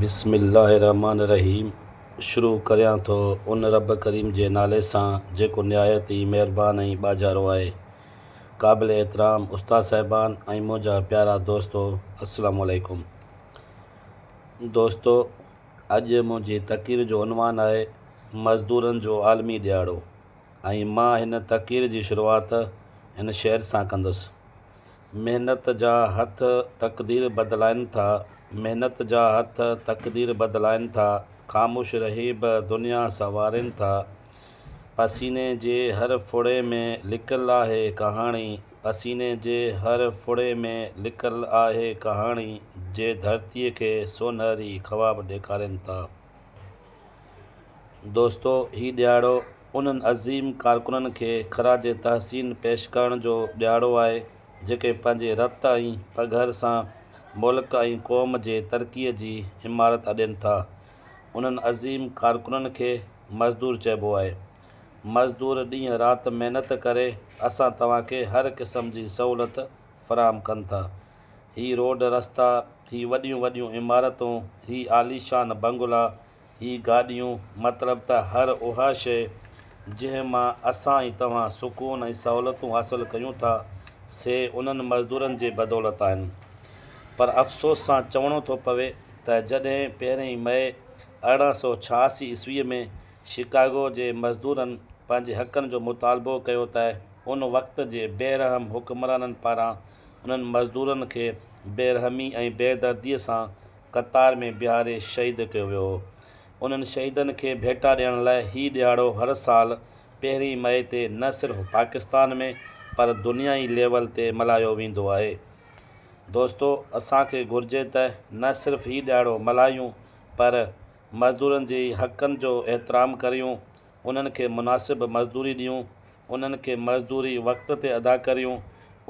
بسم الله الرحمٰن الرحيم شروع ڪريان ٿو ان رب ڪريم جي نالي سان جيڪو نهايت ئي مهربان ۽ ٻاجهارو آهي. قابل احترام استاد صاحبان ۽ منهنجا پيارا دوستو السلام عليڪم. دوستو اڄ منهنجي تقرير جو عنوان آهي مزدورن جو عالمي ڏيهاڙو ۽ مان هن تقرير جي شروعات هن شعر سان ڪندس. محنت جا هٿ تقدير بدلائن ٿا، محنت جا هٿ تقدير بدلائن ٿا، خاموش رهي به دنيا سنوارين ٿا. پسيني جي هر ڦڙي ۾ لڪل آهي ڪهاڻي، پسيني جي هر ڦڙي ۾ لڪل آهي ڪهاڻي، جي ڌرتيء کي سونهري خواب ڏيکارين ٿا. دوستو هي ڏهاڙو انهن عظيم ڪارڪنن کي خراج تحسين پيش ڪرڻ جو ڏهاڙو آهي جيڪي پنهنجي رت ۽ پگهر سان ملڪ ۽ قوم جي ترقي جي عمارت اڏين ٿا انهن عظيم ڪارڪنن کي مزدور چئبو آهي مزدور ڏينهن رات محنت ڪري اسان توهان کي هر قسم جي سهولت فراهم ڪن ٿا. هي روڊ رستا، هي وڏيون وڏيون عمارتون، هي عاليشان بنگلا، هي گاڏيون، مطلب ته هر اها شيء جنهن مان اسان ۽ توهان سڪون ۽ سهولتون حاصل ڪيون ٿا، سي انهن مزدورن جي بدولت آهن. پر افسوس سان چوڻو ٿو پوي ته جڏهن پهرين مئي ارڙهن سؤ ڇهاسي عيسويء ۾ شڪاگو جي مزدورن پنهنجي حقن جو مطالبو ڪيو ته ان وقت جي بي رحم حڪمرانن پاران انهن مزدورن کي بيرحمي ۽ بيدرديء سان قطار ۾ بيهاري شهيد ڪيو ويو هو. انهن شهيدن کي ڀيٽا ڏيڻ لاء هي ڏهاڙو هر سال پهرين مئي تي نه صرف پاڪستان ۾ پر دنيائي ليول تي ملهايو ويندو آهي. دوستو اسان کي گهرجي ته نه صرف هي ڏهاڙو ملهايون پر مزدورن جي حقن جو احترام ڪريون. انهن کي مناسب مزدوري ڏيون، انهن کي مزدوري وقت تي ادا ڪريون،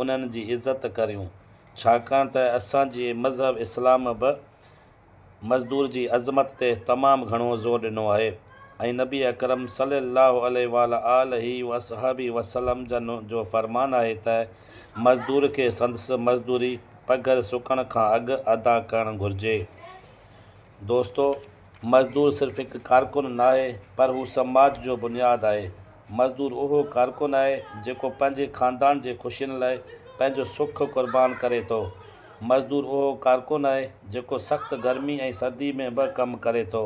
انهن جي عزت ڪريون، ڇاڪاڻ ته اسان جي مذهب اسلام به مزدور جي عظمت تي تمام گهڻو زور ڏنو آهي ۽ نبي اڪرم صلي الله عليه وعلي آله واصحابه وسلم جن جو فرمان آهي ته مزدور کي سندس مزدوري پگهر سڪڻ کان اڳ ادا ڪرڻ گهرجي. دوستو! مزدور صرف هڪ ڪارڪن ناهي پر هو سماج جو بنياد آهي. مزدور اهو ڪارڪن آهي جيڪو پنهنجي خاندان جي خوشين لاء پنهنجو سک قربان ڪري ٿو. مزدور اهو ڪارڪن آهي جيڪو سخت گرمي ۽ سردي ۾ به ڪم ڪري ٿو.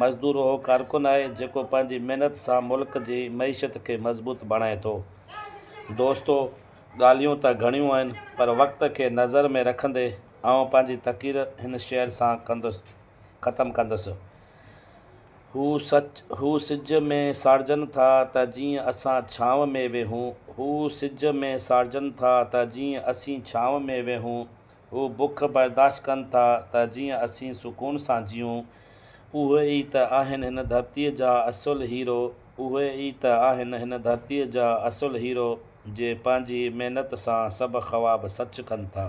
مزدور اهو ڪارڪن آهي جيڪو پنهنجي محنت سان ملڪ جي معيشت کي مضبوط بڻائي ٿو. دوستو ڳالهيون ته گهڻيون آهن پر وقت کي نظر ۾ رکندي آئون پنهنجي تقرير هن شعر سان ڪندس. ختم ڪندس. هو سچ هو سج ۾ ساڙجن ٿا ته جيئن اسان ڇانو ۾ ويهون، هو سج ۾ ساڙجن ٿا ته جيئن اسين ڇانو ۾ ويهون، هو بک برداشت ڪن ٿا ته جيئن اسين سڪون سان جيئون. اهي ئي ته آهن هن ڌرتيء جا اصل هيرو، اهي ئي ته آهن هن ڌرتيء جا اصل هيرو، جي پنهنجي محنت سان سڀ خواب سچ ڪن ٿا.